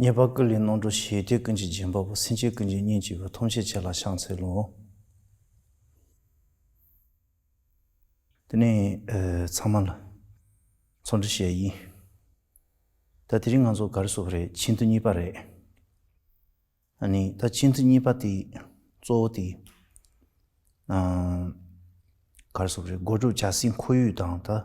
ཉེས་པ་ཀུན་ལས་ནོངས་འགྲོ་ཞེས་དེ་ཀུན་གྱི་རྗེས་འབབ་པོ་སེམས་ཅན་ཀུན་གྱི་གཉེན་གཅིག་པའི་ཐོབ་བྱེད་ཆེ་ལ་ཤངས་ཚེ་ལོ། དེ་ནས་ཚང་མ་ལ་ཚོགས་འདྲི་བྱེད་ཡིན། ད་དེ་རིང་ང་ཚོ་གར་སོང་བ་རེད་ཆེས་མཐུན་གཉིས་པ་རེད། ཨ་ནི་ད་ཆེས་མཐུན་གཉིས་པ་དེ་གཙོ་བོ་དེ་གར་སོང་བ་རེད་སྒོ་དྲུག་བྱ་སའི་འཁོར་ཡུག་དང་ད།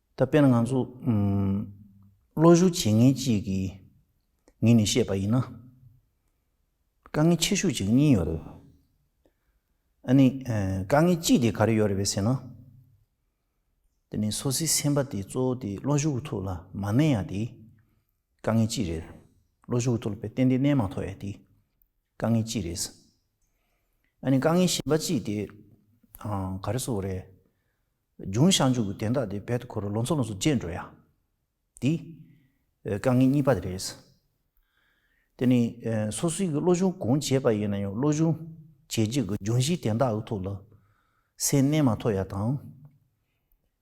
ད་དཔེར་ན་ང་ཚོ་བློ་ཞུགས་བྱེད་མཁན་གཅིག་གིས་ངེད་ནས་བཤད་པ་ཡིན་ན། དཀའ་ངལ་ཆེ་ཤོས་གཅིག་གཉིས་ཡོད་རེད། ཨ་ནི་དཀའ་ངལ་གཅིག་དེ་ག་རེ་ཡོད་རེད་བས་ཟེར་ན། དེ་ནི་སོ་སོའི་སེམས་པ་དེ་གཙོ་བོ་དེ་བློ་ཞུགས་ཀྱི་ཐུགས་ལ་མ་གནས་ཡ་དེ་དཀའ་ངལ་གཅིག་རེད། བློ་ཞུགས་ཀྱི་ཐུགས་ལ་བས་ཏན་ཏན་གནས་མ་ཐོག་ཡ་དེ་དཀའ་ངལ་གཅིག་རེད། ཨ་ནི་དཀའ་ངལ་གཞན་པ་གཅིག་དེ་ག་རེ་སོགས་རེད། ལྗོངས་བཤའ་མཇུག་གི་དན་རྟགས་དེ་བེད་དུ་འཁོར་བའི་ལོ་ཚོད་ལོངས་སུ་སྤྱད་འགྲོ་ཡ། འདི། དཀའ་ངལ་གཉིས་པ་དེ་རེད། དེ་ནི། སོ་སོའི་གི་བློ་སྦྱོང་གང་བྱས་པ་ཡིན་ན་ཡང་བློ་སྦྱོང་བྱས་རྗེས་གི་ལྗོངས་བཤའི་དན་རྟགས་གི་ཐོག་ལ། སེམས་རྣལ་མ་ཐོག་ཡ་དང།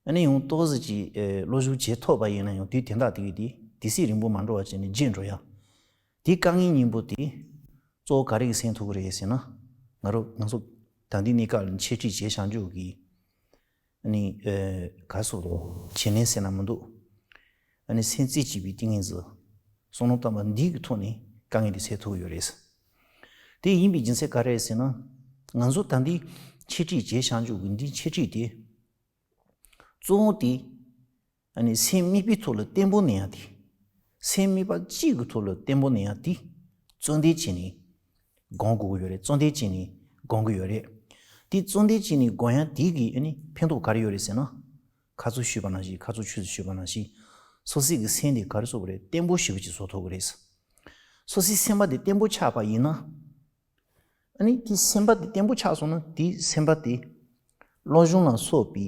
ཨ་ནི་ཡང་ཏོག་ཟིག་ཅིག་བློ་སྦྱོང་བྱས་ཐོག་པ་ཡིན་ན་ཡང་དུས་དན་རྟགས་དེ་གི་དེ་དེ་སྲིད་རིང་པོ་མ་འགྲོ་བར་བྱས་ནས་སྤྱད་འགྲོ་ཡ། དེ་རྐང་གཉིས་སྙིང་པོ་དེ་གཙོ་བོ་ག་རེ་གི་སེང་ཐུག་གི་རེད་ཟེར་ན། ང་རོ་ང་ཚོ་དང་དེ་གནས་སྐབས་འཆད་ཁྲིད་བྱས་བྱང་ཆུབ་ཀྱི་ནི་ག་སུ་བྱེད་ནས་ཟེར་ན་མི་འདུག་ཨ་ནི་སེང་རྩེ་གཅིག་པའི་ཏིང་ངེ་འཛི་གསུང་ནོར་བཏང་པ་འདི་གི་ཐོག་ནས་དཀའ་ངལ་དེ་ཚད་ཐུག་ཡོད་རེད། དེ་ཡིན་པའི་སྦྱིན་སྲེག་ག་རེ་ཟེར་ན། ང་ཚོ་དང་དེ་འཆད་ཁྲིད་བྱས་བྱང་ཆུབ་ཀྱི་འདི་འཆད་ཁྲིད་དེ་གཙོ་བོ་དེ་སེམས་དམིགས་པའི་ཐོག་ལ་བརྟན་པོ་གནས་ཡང་དེ། སེམས་དམིགས་པ་གཅིག་གི་ཐོག་ལ་བརྟན་པོ་གནས་ཡང་དེ། བརྩོན་འདེད་བྱས་ནས་སྒོང་དགོས་ཀྱི་ཡོད་རེད་བརྩོན་འདེད་བྱས་ནས་སྒོང་གི་ཡོད་རེད། དེ་བརྩོན་འདེད་བྱས་ནས་སྒོང་ཡང་དེ་གི་ཕན་ཐོགས་ག་རེ་ཡོད་རེད་ཟེར་ན། ཁ་ཚུར་ཤུས་པ་ན་ཞིག་ཁ་ཚུར་ཆུས་སུ་ཤུས་པ་ན་ཞིག། སོ་སྲིད་ཀྱི་སེམས་དེ་ག་རེ་བཟོ་གི་རེད་བརྟན་པོ་ཞིག་གི་བཟོ་ཐུབ་ཀྱི་རེད། སོ་སྲིད་སེམས་པ་དེ་བརྟན་པོ་ཆགས་པ་ཡིན་ན། དེ་སེམས་པ་དེ་བརྟན་པོ་ཆགས་སོང་ན་དེ་སེམས་པ་དེ། བློ་གཞུང་ལ་སོགས་པའི་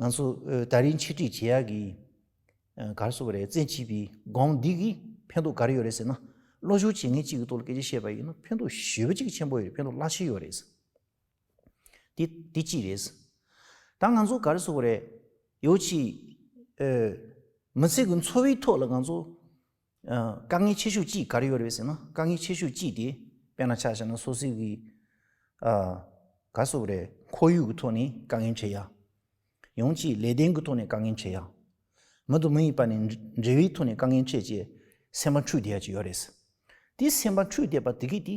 ང་ཚོ་ད་རིང་འཆད་ཁྲིད་བྱེད་ཡག་གི་གར་བཟོ་བ་རེད་བཙན་བྱིས་པའི་སྒང་འདི་གི་ཕན་ཐོག་གར་ཡོད་རེད་ཟེར་ན་བློ་སྦྱོང་བྱེད་མཁན་གཅིག་གི་ཐོག་ལ་སྐད་ཆ་བཤད་པ་ཡིན་ན་ཕན་ཐོག་ཞེ་བོ་གཅིག་ཆེན་པོ་ཡོད་རེད་ཕན་ཐོག་བླ་ཆེན་ཡོད་རེད། དེ་དེ་གཅིག་རེད། ད་ང་ཚོ་གར་བཟོ་བ་རེད་ཡོ་ཆི། མི་ཚེ་གི་འཚོ་བའི་ཐོག་ལ་ང་ཚོ་དཀའ་ངལ་ཆེ་ཤོས་ཅི་ག་རེ་ཡོད་རེད་ཟེར་ན་དཀའ་ངལ་ཆེ་ཤོས་ཅི་དེ་དཔེར་ན་ཆ་བཞག་ན་སོ་སོའི་གི་ག་སོགས་རེད་ཁོར་ཡུག་གི་ཐོག་ནས་དཀའ་ངལ་འཕྲད་ཡ། ཡང་ཅིག་ལས་དོན་གྱི་ཐོག་ནས་དཀའ་ངལ་འཕྲད་ཡ། མི་དང་མི་ཡི་བར་ནས་འབྲེལ་བའི་ཐོག་ནས་དཀའ་ངལ་འཕྲད་ཅེས་སེམས་པ་འཁྲུག་བསྡད་ཡ་ཅིག་ཡོད་རེད། དེ་སེམས་པ་འཁྲུག་བསྡད་པ་དེ་གས་དེ་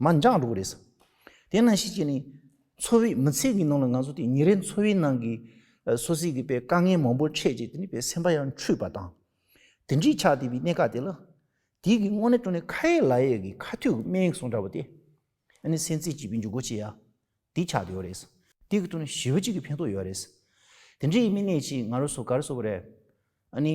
མ་འགྱངས་འགྲོ་གི་རེད། དེ་ནང་བཞིན་བྱས་ནས། འཚོ་བའི་མི་ཚེ་གི་ནང་ལ་ང་ཚོ་དེ་ཉིན་རེའི་འཚོ་བའི་ནང་གི། སོ་སོའི་གི་དཀའ་ངལ་མང་པོ་འཕྲད་རྗེས་དེ་ནི་བའི་སེམས་པ་ཡང་འཁྲུལ་པ་དང། དེ་འདྲིས་ཆགས་བསྡད་པའི་གནད་འགག་དེ་ལ། དེའི་གི་སྔོན་ནས་སྤྲོ་ནས་ཁ་ཡས་ལ་ཡས་གི་ཁ་ཐུག་སྨད་ཡིག་སོང་འདྲ་བོ་དེ། ཨ་ནི་སེམས་ཚེགས་བྱིས་པའི་འཇུག་སྒོ་ཆེ་ཡ། དེ་ཆགས་བསྡད་ཡོད་རེད། དེ་གི་ཐུག་ནས་ཞི་བ་གཅིག་གི་ཕན་ཐོག་ཡོད་རེད། དེ་འདྲིས་མི་གནས་ཀྱིས་ང་རོ་སོ་ག་རུ་སོ་བ་རེད། ཨ་ནི།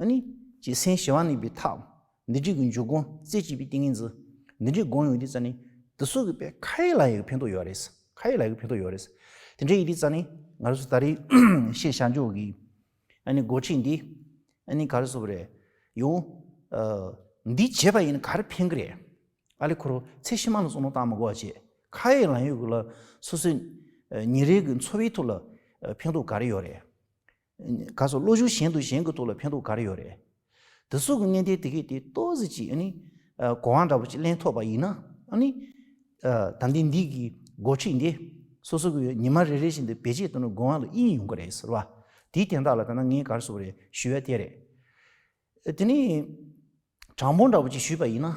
ཨཱ་ནི། ཅེས་སེང་ཞེས་བ་ནི་པའི་ཐག། འདི་བྲིས་ཀྱི་འཇུག་སྒོ་རྩེ་གཅིག་པའི་ཏིང་ངེ་འཛིན། འདི་འདྲའི་དགོངས་ཡོད་ཀྱི་རྩ་ནི། འདི་སོགས་ཀྱི་པའི་ཁ་ཡིག་ལ་ཡི་གེ་ཕན་ཐོགས་ཡོད་རེད། ཁ་ཡིག་ལ་ཡི་གེ་ཕན་ཐོགས་ཡོད་རེད། དེ་འདྲའི་ཡི་གེའི་རྩ་ནི། ང་རོ་སོ་ད་རེས་ཤེས་བྱ་འཇུག་གི། ཨཱ་ནི་སྒོ་ཁྲིད་འདི། ཨཱ་ནི་ག་རེ་སོ་བ་རེད། ཡོང། འདི་བྱེད་པ་ཡིན་ན་ག་རེ་ཕན་གི་རེད། ཨཱ་ལི་ཁོ་རོ་ཚེ་ཕྱི་མ་ལ་སོགས་ནོར་བཏང་མི་དགོས་པ་བྱེད། ཁ་ཡིག་ལ་ཡོད་ཀྱི་ལ་སོ་སོའི། ཉིན་རེའི་གི་འཚོ་བའི་ཐོག་ལ། ཕན་ཐོགས་ག་རེ་ཡོད་རེད། ག་སོགས་བློ་གཞུག་གཞན་དུ་གཞན་གྱི་ཐུགས་ལ་ཕན་ཐོགས་ག་རེ་ཡོད་རེད། དེ་སོགས་ཀྱི་གནད་དོན་དེ་གས་དེ་ལྟོས་ཟིག་ཅིག་ཨ་ནི། གོ་བ་འདྲ་པོ་ཅིག་གླེང་ཐོགས་པ་ཡིན་ན་ཨ་ནི། དམ་ལྡན་འདིས་གིས་འགོ་ཁྲིད་འདི། སོ་སོ་གིས་ཉི་མ་རེ་རེ་བཞིན་དུ་བེད་སྤྱད་དོན་ནི་དགོན་བ་ལ་དབྱིན་ཡོང་གི་རེད་ཟེར་བ། དེའི་དན་རྟགས་ལ་ལྟ་ན་ངས་གར་སོགས་རེད་ཞུས་བས་དེ་རེད། དེ་ནི། དྲང་པོ་འདྲ་པོ་ཅིག་ཞུས་པ་ཡིན་ན།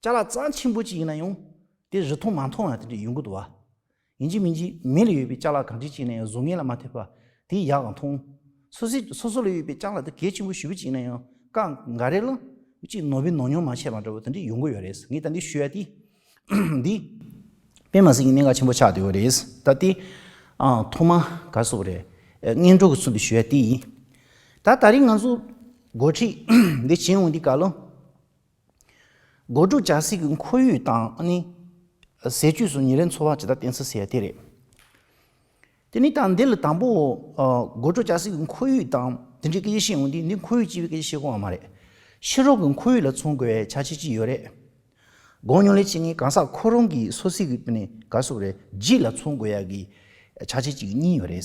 ལྕགས་ལ་གཙང་ཆེན་པོ་ཅིག་ཡིན་ན་ཡང། དེ་རི་མཐོང་མ་མཐོང་ཡང་དེ་འདྲའི་ཡོང་གི་འདུག་བ། ཡིན་གཅིག་མིན་གཅིག་མི་ལ་ཡོད་པའི་ལྕགས་ལ་གང་ཅི་བྱས་ན་ཡང་བཟོ་ངན་ལ་མ་ཐེབས་པ། དེའི་ཡག་གང་མཐོང། སོ་སི་སོ་སོ་ལ་ཡོད་པའི་ལྕགས་ལ་དེ་གལ་ཆེན་པོ་ཞུ་བ་ཅིག་ཡིན་ན་ཡང་ཀ་འགའ་རེ་ལ། གཅིག་ནོར་བུའི་ནོར་ཉོག་མ་བྱས་པ་འདྲ་བོ་དེ་འདྲའི་ཡོང་གི་ཡོད་རེད། ངས་ད་འདི་ཞུས་ཡ་དེ། འདི། དཔེ་མ་ཟིག་གི་གནད་འགག་ཆེན་པོ་ཆགས་འདུག་ཡོད་རེད། ད་ལྟའི། ཐོག་མ། ག་སོགས་རེད། སྔས་འགྲོ་གི་ཚུལ་དུ་ཞུས་ཡ་དེ་ཡིན། ད་ད་རིང་ང་ཚོ། འགོ་ཁྲིད། འདི་བྱས་འོང་འདི་ག་ལ། སྒོ་དྲུག་བྱ་ཟིག་གི་འཁོར་ཡུག་དང་ནི། ཟས་བཅུད་སོགས་ཉིན་རེའི་འཚོ་བ་ཇི་ལྟར་བསྟན་ཚུལ་གསལ་བ་དེ་རེད། དེ་ནས་དང་འདི་ལ་དང་པོའོ། སྒོ་དྲུག་བྱ་ཟིག་གི་འཁོར་ཡུག་དང་དེ་འབྲེལ་སྐད་ཆ་བཤད་འོང་དུས་འདི་འཁོར་ཡུག་ཅེས་པའི་སྐད་ཆ་བཤད་དགོས་བ་མ་རེད། ཕྱི་རོལ་གྱི་འཁོར་ཡུག་ལ་མཚོན་དགོས་བའི་བྱ་བྱེད་ཅི་ཡོད་རེད། དགོངས་ཉུང་ལས་བྱེད་ངས་གང་ཟག་ཁོ་རང་གི་སོ་སྲིད་ཀྱི་དཔེ་ནས་ག་སོགས་རེད་རྗེས་ལ་མཚོན་དགོས་ཡག་གི་བྱ་བྱེད་ཅིག་གཉིས་ཡོད་རེད།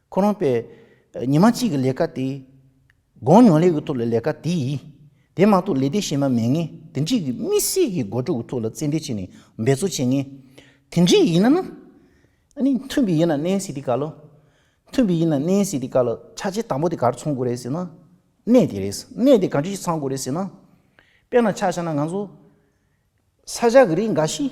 ཁོ་རང་པས་ཉིན་མ་གཅིག་གི་ལས་ཀ་དེ། དགོང་ཉོ་ལེ་འུ་ཐུག་ལ་ལས་ཀ་དེ། དེ་མ་གཏོགས་ལས་སྡེ་གཞན་མ་མེད་ངེས། དེ་འདྲིས་ཀྱི་མི་སེར་གྱི་མགོ་གྲུ་འུ་ཐུག་ལ་རྩེད་འདྲེ་བྱས་ནས་འབད་རྩོལ་བྱེད་ངེས། དེ་འདྲིས་ཡིན་ན་ན། ཨ་ནི་མཐུན་པའི་ཡིན་ན་ནན་སི་ཏི་ཀ་ལོ། མཐུན་པའི་ཡིན་ན་ནན་སི་ཏི་ཀ་ལོ་ཆ་ཆེ་དང་པོ་དེ་གར་ཚོང་དགོས་རེད་ཟེར་ན། གནས་དེ་རེད། གནས་དེ་ག་འདྲི་ཞིག་ཚང་དགོས་རེད་ཟེར་ན། དཔེར་ན་ཆ་བཞག་ན་ང་ཚོ། ས་བཞག་གི་རིགས་འགའ་ཞིག།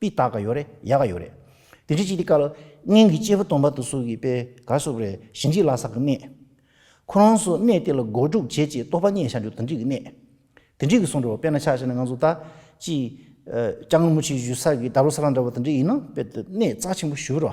པི་ཏག་ག་ཡོ་རེ་ཡ་ག་ཡོ་རེ། དེ་འདྲི་ཅིག་དེ་ཀ་ལ། སྙིང་གི་སྐྱེས་བུ་སྟོང་པ་དུ་སོ་གི་པེ་ག་སོ་རེ་ཞི་འཇིག་ལ་སག་གི་གནས། ཁོ་རང་སོ་གནས་དེ་ལ་སྒོ་དྲུག་བྱེད་ཅེས་རྟོག་པ་རྙེད་བྱ་འཇུག་དང་འཇིག་གི་གནས། དེ་འདྲི་གི་སོང་འགྲོ་བ་པེ་ན་ཆགས་ཤེ་ན་ང་ཚོ་ད་ཅི། སྐྱ་ངུ་མུ་ཆེ་བཞུད་ས་གི་འདབ་ལོ་ས་ར་འདྲ་བ་དང་འདྲི་ཡིན་ན་པེ་ཏི་གནས་རྩ་ཆེན་པོ་བཞུར་རོ།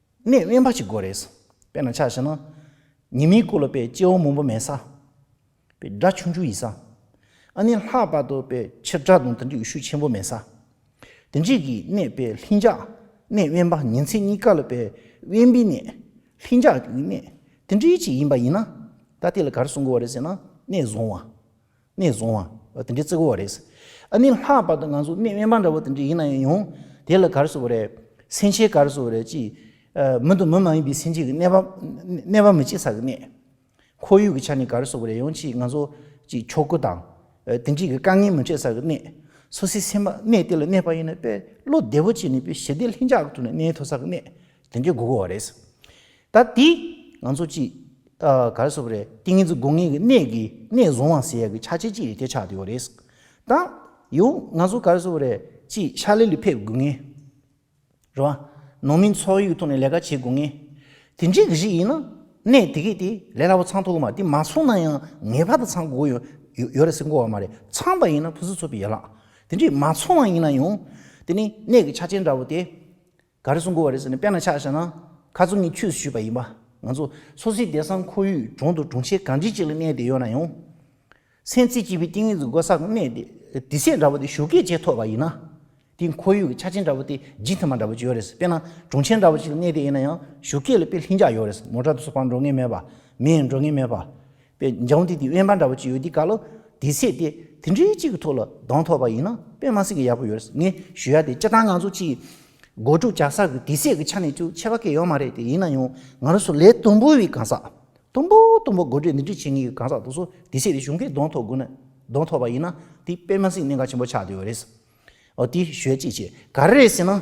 གནས་དབེན་པ་ཞིག་དགོས་རེད། དཔེར་ན་ཆ་ཞེ་ན། ཉི་མའི་སྐུ་ལ་དཔེ་སྐྱེ་བོ་མང་པོ་མེད་ས། དཔེ་སྒྲ་ཆུང་ཆུང་ཡིན་ས། ཨ་ནི་ལྷག་པར་དུ་དཔེ་ཆེ་སྒྲ་དང་དེ་འདྲའི་ཡུལ་ཤུལ་ཆེན་པོ་མེད་ས། དེ་རྗེས་ཀྱི་གནས་དཔེ་ལྷིང་འཇགས། གནས་དབེན་པ་ཉིན་མཚན་གཉིས་ཀ་ལ་དཔེ་དབེན་པའི་གནས། ལྷིང་འཇགས་ཀྱི་གནས། དེ་འདྲའི་ཅིག་ཡིན་པ་ཡིན་ན། ད་དེ་ལ་ག་རེ་གསུང་དགོས་བ་རེད་ཟེར་ན་གནས་བཟང་བ། གནས་བཟུང་བ། དེ་འདྲའི་བརྩི་གོ་བ་རེད། ཨ་ནི་ལྷག་པར་དུ་ང་ཚོ་གནས་དབེན་པ་འདྲ་བོ་དེ་འདྲས་ཡིན་ན་ཡང། དེ་ལ་གར་སོ་བ་རེད། སེམས་ཅན་གར་སོ་བ་རེད་ཅེས། མི་དང་མི་མ་ཡིན་པའི་སེམས་ཅན་གྱི་གནས་པ། གནས་པ་མི་སྐྱེ་ས་གི་གནས། ཁོར་ཡུག་གི་ཆ་ནས་གར་སོ་བ་རེད་ཡང་ཅིས་ང་ཚོ། ཅིས་ཕྱོགས་ཀུན་དང། དེ་འདྲས་ཀྱི་དཀའ་ངལ་མི་འཕྲད་ས་གི་གནས། སོ་སོའི་སེམས་པ་གནས་དེ་ལ་གནས་པ་ཡིན་ན་དཔེ། བློ་བདེ་བོ་སྐྱེས་ནས་དཔེ་ཞི་བདེ་ལྷིང་འཇགས་གི་ཐོག་ནས་གནས་ཐུབ་ས་གི་གནས། དོན་གྱི་དགུ་གོ་བ་རེད། ད་དེ་ང་ཚོ་ཅི། ག་རེ་ཟོ་བ་རེད་ཏིང་ངེ་འཛིན་དགུ་ངེས་ཀྱི་གནས་ཀྱི་གནས་བཟུང་བ་ཟེར་ཡ་གི་ཆ་ཆེ་ཅི་རེད་དེ་ཆགས་བསྡད་ཡོད་རེད། ད་ཡོང་ང་ཚོ་ག་རེ་ཟོ་བ་རེད་ཅི་ཤ་ལེ་ལི་ཕེབས་དགུ་ངེས། རེད་བ། ནོར་མིན་ཚོགས་ཡིག་ཐོག་ནས་ལས་ཀ་བྱེད་དགུ་ངེས། དེ་འདྲའི་གི་ཞིག་ཡིན་ན་གནས་དེ་གས་དེ་ལས་སླ་བོ་ཚང་ཐུག་གི་མ་དེ་མ་ཚུགས་ན་ཡང་ངེས་པར་དུ་ཚང་དགུ་གོ་ཡོད་རེད་ཟེར་གོ་བ་མ་རེད་ཚང་པ་ཡིན་ན་ཕུན་སུ་ཚོགས་པའི་ཡ་ལག་དེ་འདྲའི་མ་ཚོགས་ན་ཡིན་ན་ཡང་དེ་ནི་གནས་ཀྱི་ཆ་ཆེན་འདྲ་བོ་དེ། ག་རེ་གསུངས་དགོས་བ་རེད་ཟེར་ནས་དཔེ་ན་ཆགས་བཞག་ན་ཁ་རྩོམ་གཉིས་ཆུད་ཟོས་བྱས་པ་ཡིན་པ། ང་ཚོ་སོ་སོའི་སྡེ་སང་ཁོར་ཡུག་གྱི་དྲུང་དུ་དྲུང་ཆེ་གངས་རྗེ་གཅིག་ལ་གནས་བསྡད་ཡོད་ན་ཡང། སེམས་རྩེ་སྐྱིད་པོའི་གཏིང་རིང་དུ་སྒོ་སག་གནས་བསྡད་དེ་ཚེ་འདྲ་བོ་དེ་ཞོ་སྐད་ཅེས་ཐོས་པ་ཡིན་ན། དེ་ཁོར་ཡུག་གི་ཆ་ཆེན་འདྲ་བོ་དེ་ལྗིད་ཐེམ་པ་འདྲ་བོ་ཅིག་ཡོད་རེད་དཔེ་ན་དྲུང་ཆེ་འདྲ་བོ་ཅིག་ལ་གནས་བསྡད་ཡིན་ན་ཡང་ཞོ་སྐད་ལ་དཔེ་ལྷིང་འཇགས་ཡོད་རེད་མོ་དྲག་ཏུ་སོ་ཕག་འགྲོ་ངེས་མེད་པ། མེ་ཡང་འགྲོ་ངེས་མེད་པ། པའི་འཇང་དེ་དེ་དབེན་པ་འདྲ་བོ་གཅིག་ཡོད་དེ་ག་ལོ་དེ་ཚེས་དེ་དེ་འདྲའི་གཅིག་གི་ཐོག་ལ་གདོང་ཐོག་པ་ཡིན་ན་དཔེ་མ་སྲིད་ཀྱི་ཡག་པོ་ཡོད་རེད་ངས་ཞུ་ཡག་དེ་སྤྱི་བཏང་ང་ཚོ་སྤྱི་སྒོ་དྲུག་བཅག་ས་གི་དེ་ཚེས་ཀྱི་ཆ་ནས་ཅུང་ཆེ་བ་སྐད་ཡོད་མ་རེད་དེ་ཡིན་ན་ཡང་ང་རོ་སོ་ལས་དུམ་བུ་བའི་གང་ཟག་དུམ་བུ་དུམ་བུ་དགོད་བྲོ་འདི་འདྲའི་བྱེད་ངེས་ཀྱི་གང་ཟག་དུ་སོ་དེ་ཚེས་དེ་གཞུང་སྐད་གདོང་ཐོག་དགོས་ན་གདོང་ཐོག་པ་ཡིན་ན་དེ་དཔེ་མ་སྲིད་གནད་འགག་ཆེན་པོ་ཆགས་དུས་ཡོད་རེད་ཨོ་དེ་ཞོད་ཅིག་བྱེད་ག་རེ་རེད་ཟེར་ན།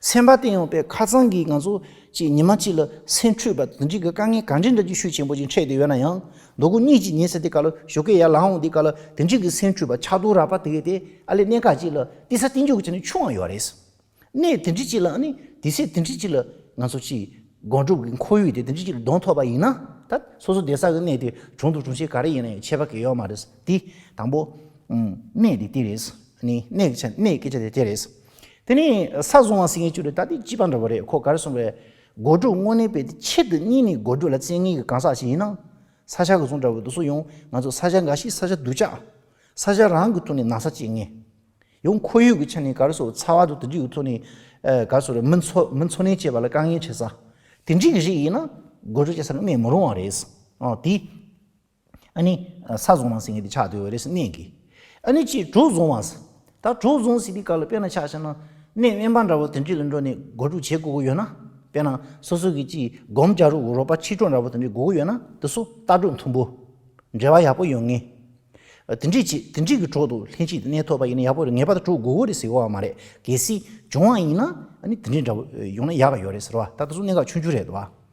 སེམས་པ་བརྟན་ཡོང་པའི་ཁ་རྩང་གིས་ང་ཚོ་གཅིག་ཉི་མ་གཅིག་ལ་སེམས་འཁྲུག་པ་འདི་འདྲི་གི་དཀའ་ངལ་གང་འདྲའི་འདྲ་ཀྱི་ཤུལ་ཆེན་པོ་ཅིག་འཕྲད་དེ་ཡོད་ན་ཡང་རྡོ་སྐུ་གཉིས་ཀྱིས་ཉེ་ས་དེ་ག་ལ་ཞོ་ཁའི་ཡར་ལངས་འོང་དེ་ག་ལ་དེ་འདྲི་གི་སེམས་འཁྲུག་པ་ཆགས་འདུག་ར་བ་དེ་དེ་ཨ་ལས་གནས་ཁག་ཅིག་ལ་བསྟི་ས་བསྟི་འཇུག་གི་ཆ་ནས་ཆུང་བ་ཡོད་རེད། གནས་དེ་འདྲི་གཅིག་ལ་ནི་དེ་སྲིད་དེ་འདྲི་གཅིག་ལ་ང་ཚོ་གཅིག་སྒོམ་སྒྲུབ་གི་འཁོར་ཡུག་དེ་དེ་འདྲི་གཅིག་ལ་གདོང་ཐོག་པ་ཡིན་ན་ད་སོ་སོ་སྡེ་སར་གི་གནས་དེ་གྲོང་དུ་གྲོང་ཆེ་ག་རེ་ཡིན་ན་ཡང་ཆད་པ་གལ་ཡོད་མ་རེད། དེ་དང་པོ། གནས་དེ་དེ་རེད། ནི་གནས་ཀྱི་ཆ་ནས་གནས་སྐད་ཆ་དེ་དེ་རེད། དེ་ནི་ས་བཟུང་བ་སྲིད་ངན་བཅུ་རེད་ད་འདི་སྤྱི་པ་འདྲ་བོ་རེད་ཁོ་གར་སོང་བའི། སྒོ་དྲུག་དངོས་གནས་པའི་དེ་ཆེད་དུ་གཉིས་ནི་སྒོ་དྲུག་ལ་བཙན་ངན་གྱི་གང་ཟག་ཞིག་ཡིན་ན། ས་ཆ་ག་བཟུང་འདྲ་བོ་འདུག་སུ་ཡོང་ང་ཚོ་ས་ཆ་འགའ་ཞིག་ས་ཆ་སྡུག་ཅག། ས་ཆ་རང་གི་ཐོག་ནས་ན་ས་བཅད་ངན། ཡང་ཁོར་ཡུག་གི་ཆ་ནས་གར་སོང་ཚ་བ་དང་དུ་འཇིག་གི་ཐོག་ནས། གར་སོང་རེད་མི་འཚོ་མི་འཚོ་གནས་བཅས་པ་ལ་དཀའ་ངལ་འཕྲད་ས། དེ་འདྲིའི་གཞི་ཡིན་ན་སྒོ་དྲུག་བཅད་ས་ནི་གནས་མི་རུང་བ་རེད། དེ། ཨ་ནི། ས་བཟུང་བ་སྲིད་ཀྱི་ཆགས་དུས་རེས་གནས་ཀྱི། ཨ་ནི་ཅི་དྲུག་བཟུང་བ། ད་དྲུག་བཟུང་སྲིད་པའི་སྐབས་ལ་དཔེར་ན་ཆགས་ཤེ་ན། གནས་དབེན་པ་འདྲ་བོ་དེ་འདྲའི་ལ་འགྲོ་ནས་སྒོ་དྲུག་བྱེད་དགོས་ཀྱི་ཡོད་ན། དཔེར་ན་སོ་སོ་གི་ཅི་སྒོམ་བརྒྱ་རུ་རོགས་པ་ཆིག་གྲོགས་འདྲ་བོ་དེ་འདྲའི་དགོས་ཀྱི་ཡོད་ན་དེ་སུ་རྟ་དྲུག་མཐུན་པོ། འབྲེལ་བ་ཡག་པོ་ཡོད་ངེས། དེ་འདྲས་བྱས་དེ་འདྲས་ཀྱི་གྲོགས་དུ་ལྷན་ཅིག་གནས་ཐོབ་པ་ཡིན་ན་ཡག་པོ་རེད་ངེས་པར་དུ་དྲུག་དགོས་ཀྱི་རེད་ཟེར་གོ་བ་མ་རེད་གལ་སྲིད་བྱུང་བ་ཡིན་ན་ཨ་ནི་དེ་འདྲས་འདྲ་བོ་ཡོང་ན་ཡག་གི་ཡོད་རེད་ཟེར་བ་ད་དེ་ཚོ་གནད་འགག་ཆུང་ཆུང་རེད་དོ་བ།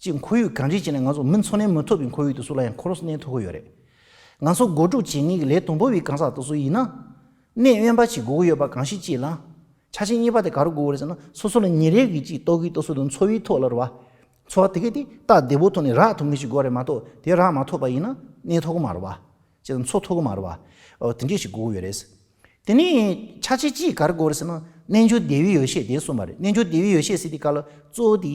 གཅིག་ཁོར་ཡུག་གང་འདྲའི་ཆེ་ན་ང་ཚོ་མི་འཚོ་གནས་མི་ཐུབ་པའི་ཁོར་ཡུག་དུ་སུ་ལ་ཡང་ཁོ་རུ་གནས་ཐུབ་ཀྱི་ཡོད་རེད། ང་ཚོ་སྒོ་དྲུག་བྱེད་ངེས་ཀྱི་ལས་དང་པོ་བའི་གང་ཟག་དག་སུ་ཡིན་ན། གནས་དབེན་པ་ཞིག་སྒུག་གི་ཡོད་པ་གང་ཞིག་ཅེས་ལ། ཆ་ཆེན་གཉིས་པ་དེ་ག་རུ་སྒུག་གི་རེད་ཟེར་ན་སོ་སོ་ལ་ཉིན་རེ་བཞིན་གཅིག་ལྟོ་གིས་ལྟོ་སུ་དང་འཚོ་བའི་ཐོག་ལ་རུ་བ། འཚོ་བ་དེ་གས་ཏེ་རྟ་བདེ་བོ་ཐོག་ནས་རག་ཐུབ་ངེས་ཞིག་དགོས་རེད་མ་གཏོགས་དེ་རག་མ་ཐུབ་པ་ཡིན་ན་གནས་ཐུབ་ཀྱི་མ་རུ་བ། ཅེས་དང་འཚོ་ཐུབ་ཀྱི་མ་རུ་བ། དེ་འདྲས་ཞིག་སྒུག་གི་ཡོད་རེད། དེ་ནས་ཆ་ཆེ་གཅིག་ག་རུ་སྒུག་རེད་ཟེར་ན་རྣལ་འབྱོར་བདེ་བའི་ཡོ་བྱད་དེ་གསུངས་པ་རེད་རྣལ་འབྱོར་བདེ་བའི་ཡོ་བྱད་ཟེར་དེ་ག་ལ་གཙོ་བོ་དེ།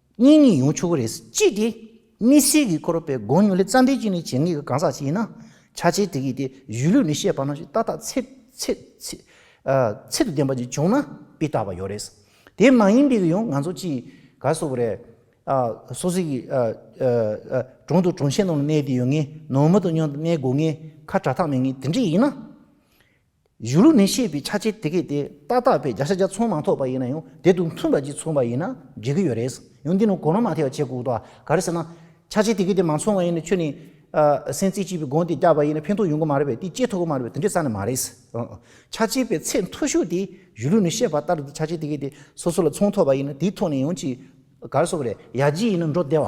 གཉིས་གཉིས་ཡོང་ཆོག་གི་རེད། གཅིག་དེ། དམིགས་བསལ་གྱི་སྐོར་དཔེ་དགོངས་ཉུང་ལས་རྩ་འགྲེལ་གྱི་ནི་བྱེད་ངེས་ཀྱི་གང་ཟག་ཅིག་ཡིན་ན། ཆ་བྱད་དེ་གིས་ཏེ་གཞུས་ལུས་ནི་ཤེས་པ་ན་ཞིག་ཏག་ཏག་ཚད། ཚད། ཚད་དུ་ལྡན་པ་ཅིག་བྱུང་ན་དཔེ་བལྟ་བ་ཡོད་རེད། དེ་མ་ཡིན་པའི་གི་ཡང་ང་ཚོ་ཅིག་ག་བཟོ་གི་རེད། སོ་སོའི་གི། གྲོང་དུ་གྲོང་ཆེན་ནང་ལ་གནས་བསྡད་ཡོད་ངེས། ནང་མི་དང་ཉོ་གནས་དགོས་ངེས། ཁ་གྲ་ཐག་མེད་ངེས་དེ་འདྲ་ཡིན་ན། གཞུང་ལུགས་ནས་བཤད་པའི་ཆ་བྱད་དེ་གས་དེ་ཏག་ཏག་བས་བརྒྱ་ཆ་བརྒྱ་ཚོང་མ་ཐོབ་པ་ཡིན་ན་ཡང་དེ་དང་མཐུན་པ་གཅིག་ཚོང་པ་ཡིན་ན་འགྲིག་གི་ཡོད་རེད། ཡང་འདི་ནི་གོ་ལོང་མ་ཐེ་བ་བྱེད་དགོས་དོགས་ག་རེ་ཟེར་ན། ཆ་བྱད་དེ་གས་དེ་མ་ཚོང་བ་ཡིན་ན་ཁྱོད་ནི། སེམས་རྩེ་སྐྱིད་པའི་སྒོང་དེ་བཀྱགས་པ་ཡིན་ན་ཕན་ཐོགས་ཡོང་གི་མ་རེད་པས་དེ་སྐྱེས་ཐུབ་ཀྱི་མ་རེད་པས་དེ་འདྲའི་ས་ནི་མ་རེད། ཆ་བྱད་པའི་ཚད་མཐོ་ཤོས་དེ་གཞུང་ལུགས་ནས་བཤད་པ་ལྟར་དེ་ཆ་བྱད་དེ་གས་དེ་སོ་སོ་ལ་ཚོང་ཐོབ་པ་ཡིན་ན་དེའི་ཐོག་ནས་ཡང་གཅིག་ག་རེ་སོགས་རེད་ཡར་རྒྱས་ཡིན་ན་འགྲོ་བདེ་བ།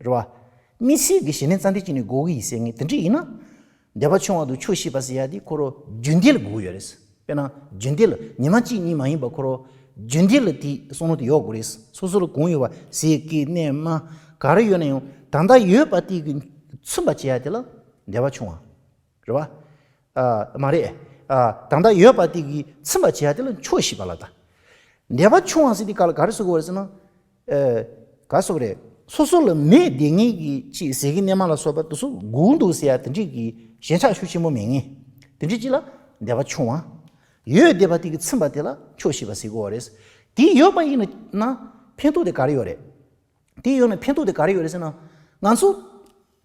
རེད་བ། མི་སྲིད་གི་ཞེ་ནས་རྩ་འགྲེལ་གྱིས་ནི་གོ་གི་ཡིན་ཟེར་ངེས་དེ་འདྲི་ཡིན་ན། འདས་པ་ཆུང་བ་དུ་ཆོས་ཤེས་པ་ཟེར་ཡ་དེ་ཁོ་རོ་རྒྱུད་འདི་ལ་གོ་ཡོད་རེད། དཔེར་ན་རྒྱུད་འདི་ལ་ཉི་མ་གཅིག་གཉིས་མ་ཡིན་པ་ཁོ་རོ་རྒྱུད་འདི་ལ་དེ་གསུང་ནོ་དེ་ཡོག་གོ་རེད། སོ་སོ་ལ་གང་ཡོད་པ་ཟེར་གི་གནས་མ་ག་རེ་ཡོད་ན་ཡང་ད་ལྟ་ཡོད་པ་དེ་གི་མཚོན་པ་བྱེད་ཡ་དེ་ལ་འདས་པ་ཆུང་བ། རེད་བ། མ་རེད། ད་ལྟ་ཡོད་པ་དེ་གི་མཚོན་པ་བྱེད་ཡ་དེ་ལ་ཆོས་ཤེས་པ་ལ་ད་འདས་པ་ཆུང་བ་ཟེར་དེ་ག་ལ་ག་རེ་བཟོ་གི་ཡོད་རེད་ཟེར་ན། ཨེ། ག་སོགས་རེད། སོ་སོ་ལ་མོས་བདེ་ངེས་ཀྱི་ཅེས་ཟེར་གི་གནས་མ་ལ་སོགས་པ་དུ་སུ་སྒུག་འདུག་ཟེར་ཡ་དེ་འདྲས་ཀྱི་ཞེན་ཆགས་ཤུགས་ཆེན་པོ་མེད་ངེས། དེ་འདྲས་ཅིག་ལ་བདེ་བ་ཆུང་བ། ཡོད་བདེ་བ་དེ་གི་ཚིམ་པ་དེ་ལ་ཆོག་ཤེས་པ་ཟེར་དགོས་བ་རེད། དེ་ཡོད་པ་ཡིན་ན་ཕན་ཐོགས་དེ་ག་རེ་ཡོད་རེད། དེ་ཡོད་ན་ཕན་ཐོགས་དེ་ག་རེ་ཡོད་རེད་ཟེར་ན། ང་ཚོ་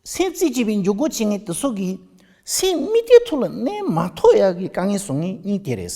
སེམས་རྩེ་གཅིག་པའི་འཇུག་སྒོ་བྱེད་ངེས་དུ་སོགས་ཀྱི་སེམས་དམིགས་བདེ་ཐུག་ལ་གནས་མ་ཐོགས་ཡ་གི་དཀའ་ངལ་བཟོ་ངེས་གཉིས་དེ་རེད།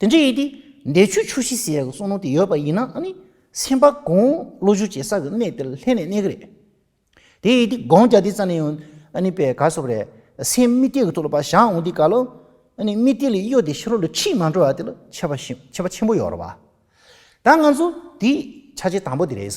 དེ་འདྲ་ཡིན་ཏེ། འདས་ཆོས་ཆོས་ཤེས་ཟེར་ཡག་གི་གསུང་ནོར་དེ་ཡོད་པ་ཡིན་ན་ནི། སེམས་པ་གང་བློ་བཞུགས་བྱེད་ས་གི་གནས་དེར་ལྷན་ནས་གནས་གི་རེད། དེ་ཡིན་ཏེ་སྒང་རྒྱ་དེ་རྩ་ནས་ཡང་ནི་པའི་ག་སོབ་རེད། སེམས་རྨི་ལྟས་ཀྱི་ཐུགས་ལ་བ་ཞག་འོང་དེ་ག་ལོ། ནི་རྨི་ལྟས་ལས་གཡོ་དེ་ཤི་རོ་ལ་ཁྲིད་མ་འགྲོ་བ་དེ་ལ་ཆེ་བ་ཆེ་བ་ཆེན་པོ་ཡོད་རེད་བ། ད་ང་ཚོ་དེ་ཆ་བྱད་དང་པོ་དེ་རེད།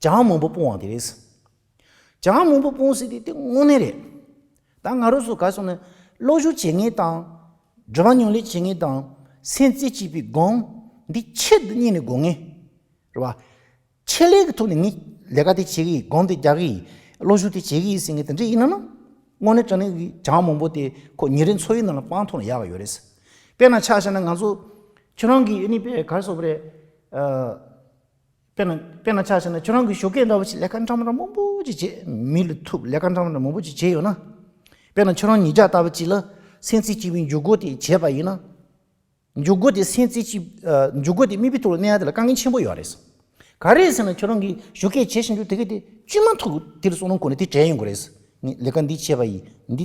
ཇག་མང་པོ་སྤུང་བ་དེ་རེད། ཇག་མང་པོ་སྤུང་སྲིད་དེ་དེ་དངོས་གནས་རེད། ད་ང་རོ་སོ་ག་སོང་ནས་བློ་གཞུག་བྱེད་ངེས་དང། འབྲེལ་བ་ཉུང་ལས་བྱེད་ངེས་དང། སེམས་རྩེ་གཅིག་པའི་སྒང་འདི་ཆེད་དུ་གཉིས་ནས་དགོས་ངེས་རེད་བ། ཆེད་ལས་ཀྱི་ཐོག་ནས་ངས་ལས་ཀ་དེ་བྱེད་གི་ཡིན་སྒང་དེ་རྒྱག་གི་ཡིན་བློ་གཞུག་དེ་བྱེད་གི་ཡིན་ཟེར་ངེས་དེ་འདྲས་ཡིན་ན། དངོས་གནས་དྲ་གནས་ཀྱི་ཇག་མང་པོ་དེ་ཁོ་ཉིན་རེ་འཚོ་བའི་ནང་ལ་སྤང་ཐུབ་ན་ཡག་གི་ཡོད་རེད། དཔེར་ན་ཆ་བཞག་ན་ང་ཚོ་ཁྱོད་རང་གི་ཨ་ནི་པའི་གར་སོག་པོ་རེད། དཔེར་ན་ཆ་ཤས་ན་ཁྱོད་རང་གི་ཞོ་སྐད་འདྲ་བོ་ཞིག་ལས་ཀ་འདྲ་འདྲ་མང་པོ་ཅིག་བྱེད་མི་ལ་ཐུབ་ལས་ཀ་འདྲ་འདྲ་མང་པོ་ཅིག་བྱས་ཡོད་ན། དཔེར་ན་ཁྱོད་རང་ཉིས་ལྕགས་ལྟ་བུ་ཅིག་ལ་སེམས་རྩེ་གཅིག་པུས་འཇུག་སྒོ་དེ་བྱས་པ་ཡིན་ན། འཇུག་སྒོ་དེ་སེམས་རྩེ་གཅིག་འཇུག་སྒོ་དེ་མིག་དཔེ་ཐུག་ལ་གནས་ཡ་དེ་ལ་དཀའ་ངལ་ཆེན་པོ་ཡོད་རེད། ག་རེ་ཟེར་ན་ཁྱོད་རང་གི་ཞོ་སྐད་བྱེད་བཞིན་དུ་དེ་ག་དེ་ཅུས་མ་ཐུག་དེར་སོང་ན་གོ་ནི་དེ་བྲལ་ཡོང་གི་རེད། ངས་ལས་ཀ་འདི་བྱས་པ་ཡིས་འདི་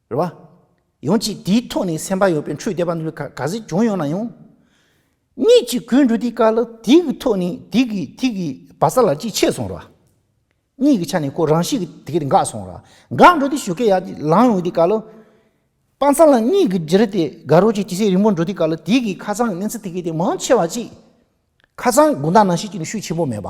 རེད་བ། ཡང་ཅིག་དེའི་ཐོག་ནས་སེམས་པ་ཡོད་པའི་འཕྲུལ་དེ་བ་འདུལ་ག་གཟིགས་བྱུང་ཡོང་ན་ཡང། གཉིས་ཀྱི་གོས་འགྲོ་དེའི་སྐལ་དེ་གི་ཐོག་ནས་དེ་གི་དེ་གི་བ་ས་ལ་ཅིག་ཆད་སོང་རེད་བ། གཉིས་ཀྱི་ཆ་ནས་ཁོ་རང་ཤི་གི་དེ་གི་འགག་སོང་རེད་བ། འགག་འགྲོ་དེ་ཞུ་སྐལ་ཡག་ཅིག་ལང་ཡོང་དེའི་སྐལ། དཔའ་མཚམས་ལ་གཉིས་གི་འདིར་དེ་ག་རོ་ཅིག་དེ་སེ་རིང་པོར་འགྲོ་དེའི་སྐལ་དེ་གི་ཁ་ཚང་གི་གནས་ཚུལ་དེ་གི་དེ་མང་ཆེ་བ་ཅིག། ཁ་ཚང་དགུང་ཟླ་ནང་ཤི་ཅིག་ནི་ཤུགས་ཆེན་པོ་མེད་བ།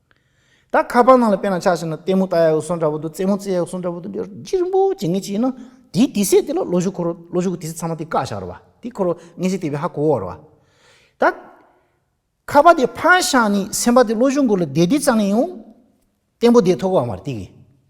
ད་ཁ་པར་ནང་ལ་དཔེ་ན་ཆགས་ཤིག་ན་ལྟད་མོ་ལྟ་ཡག་སོང་འདྲ་པོ་འདུག་རྩེད་མོ་རྩེ་ཡག་སོང་འདྲ་པོ་འདུག་ཅི་རིང་པོ་བྱེད་ངེས་ཅི་ཡིན་ན་དེའི་དེ་ཟས་དེ་ལ་ལོ་གཞུག་འཁོར་རོ་ལོ་གཞུག་གི་དེ་ཟས་ཚང་མ་དེ་བཀག་བཞག་རོ་བ་དེ་འཁོར་རོ་ངེས་ཚིག་དེ་བས་ཧ་གོ་བར་བ། ད་ཁ་པར་དེ་ཕར་བཞག་ནས་སེམས་པ་དེ་ལོ་གཞུག་འཁོར་ལ་བསྡད་བསྡད་ཙམ་ལས་ཡང་བརྟན་པོ་བསྡད་ཐུབ་བ་མ་རེད་དེ་གི།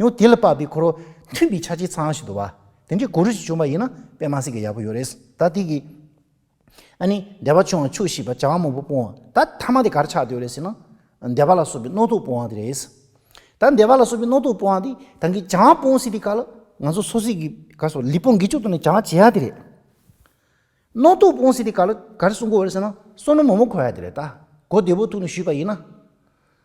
ཡང་དེ་ལ་དཔག་པའི་འཁོར་བ་མཐུན་པའི་ཆ་གཅིག་ཚང་ཞིག་འདུག་བ། དེ་འདྲའི་གོ་རུ་ཞིག་བྱུང་བ་ཡིན་ན་དཔེ་མ་ཟིན་གི་ཡག་པོ་ཡོད་རེད། ད་དེ་གི། ཨ་ནི་འདས་པ་ཆུང་བ་ཆུ་ཞེས་པ་བྱ་བ་མང་པོ་སྤོང་བ་ད་ཐ་མ་དེ་གར་ཆགས་འདོད་རེད་ཟེར་ན། འདས་པ་ལ་སོགས་པའི་རྣོ་རྟུག་སྤོང་བ་དེ་རེད། ད་འདས་པ་ལ་སོགས་པའི་རྣོ་རྟུག་སྤོང་བ་དེ་དང་གི་བྱ་བ་སྤོང་སྲིད་པའི་སྐབས་ལ་ང་ཚོ་སོ་སོས་ཀྱི་གར་སོགས་ལི་པོ་འགེལ་བཅུག་ཏུ་ནས་བྱ་བ་བྱེད་ཡ་དེ་རེད། རྣོ་རྟུག་སྤོང་སྲིད་པའི་སྐབས་ལ་གར་སྲུང་དགོས་རེད་ཟེར་ན་སྲུང་ནོར་མང་པོ་འཁོར་ཡ་དེ་རེད་ད། གོ་བདེ་པོ་ཐུག་ནས་ཞུས་པ་ཡིན་ན།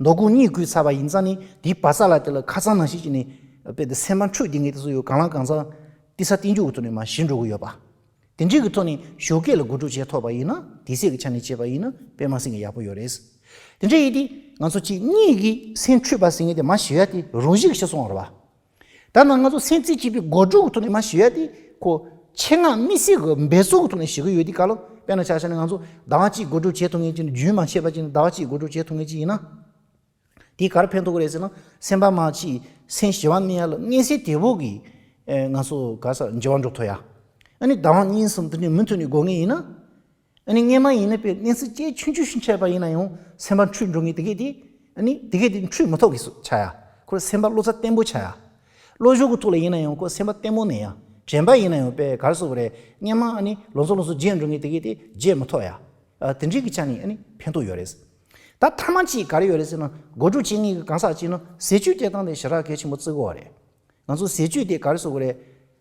མདོ་ཁུངས་གཉིས་བརྐུས་ཚར་བ་ཡིན་ཙང་ནི་དེའི་བ་ས་ལ་དེ་ལ་ཁ་ཚང་ནང་བཞིན་གྱི་ནི། དཔེ་དེ་སེམས་པ་འཁྲུགས་དེ་ངས་དེ་ཚོ་ཡོད་གང་ལ་གང་ཚང། བསྟི་ས་བསྟི་འཇོག་གི་ཐོག་ནས་མ་ཞི་འགྲོ་གི་ཡོད་པ། དེ་འདྲིའི་གི་ཐོག་ནས་ཞོ་སྐད་ལ་དགོད་སྒྲུག་བྱས་ཐོག་པ་ཡིན་ན་དེ་སྲིད་གི་ཆ་ནས་བྱས་པ་ཡིན་ན་དཔེ་མ་ཟིན་གི་ཡག་པོ་ཡོད་རེད། དེ་འདྲ་ཡིན་དུས་ང་ཚོ་གཅིག་གཉིས་ཀྱིས་སེམས་འཁྲུགས་པ་ཟིན་གི་དེ་མ་ཞི་ཡ་དེ་རུང་བཞིག་ཤི་སོང་ར་བ། ད་ནངས་ང་ཚོ་སེམས་རྩེ་གཅིག་པོས་སྒོ་དྲུག་གི་ཐོག་ནས་མ་ཞི་བ་དེ་ཁོ་ཆེད་མངགས་དམིགས་བསལ་གྱི་འབད་བརྩོན་གྱི་ཐོག་ནས་ཞི་གི་ཡོད་དེ་ག་ལ་དཔེ་ན་ཆ་ཤས་ནས་ང་ཚོ་ཟླ་བ་གཅིག་སྒོ་དྲུག་བྱེད་ཐུབ་མཁན་གཅིག་ནི་རྒྱུན་མ་ཆད་པ་གཅིག་ནི་ཟླ་བ་གཅིག་སྒོ་དྲུག་བྱེད་ཐུབ་མཁན་གཅིག་ཡིན་ན། དེས་གར་ཕན་ཐོག་གི་རེད་ཟེར་ན་སེམས་པ་མ་ཅིག་སེམས་ཞི་བ་མེད་ཡ་ལ་དངོས་གསལ་དེ་བོ་གིས་ང་ཚོ་ག་ས་འཇི་བ་འགྲོ་ཐུབ་ཡ། ཨ་ནི་ཟླ་བ་གཉིས་གསུམ་དེ་འདྲའི་མུ་མཐུད་ནས་སྒོ་ངེས་ཡིན་ན། ཨ་ནི་གནས་མ་ཡིན་ན་པའི་གནས་ཚུལ་སྐྱེས་ཆུང་ཆུང་ཞིག་འཆད་པ་ཡིན་ན་ཡང་སེམས་པ་འཁྲུལ་འགྲོ་ངེས་དེ་སྐད་དེ། ཨ་ནི་དེ་སྐད་དེ་འཁྲུལ་མི་ཐོག་གི་སུ་བྱ་ཡ། ཁོའི་སེམས་པ་བློ་རྩ་བརྟན་པོ་བྱ་ཡ། བློ་གཞུག་གི་ཐུགས་ལ་ཡིན་ན་ཡང་ཁོའི་སེམས་པ་བརྟན་པོ་གནས་ཡ། དྲན་པ་ཡིན་ན་ཡང་པའི་གར་སོ་བ་རེ་གནས་མ་ཨ་ནི་ལོ་ཚོ་ལོ་ཚོ་བརྗེས་འགྲོ་ངེས་དེ་སྐད་དེ་བརྗེས་མི་ཐོག་ཡ། དེ་འདྲིའི་གི་ཆ་ནི་ཨ་ནི་ཕན་ཐོག་ཡོད་རེད། ད་མཐའ་མ་ཅིག་ག་རེ་ཡོད་རེད་ཟེར་ན་སྒོ་དྲུག་བཅད་ངེས་གི་གང་ཟག་ཅིག་ན་ཟས་བཅུད་སྐྱེ་སྟངས་དེ་ཞེ་དྲག་གལ་ཆེན་པོ་བརྩི་དགོས་བ་རེད། ང་ཚོ་ཟས་བཅུད་དེ་ག་རེ་སོ་བ་རེད།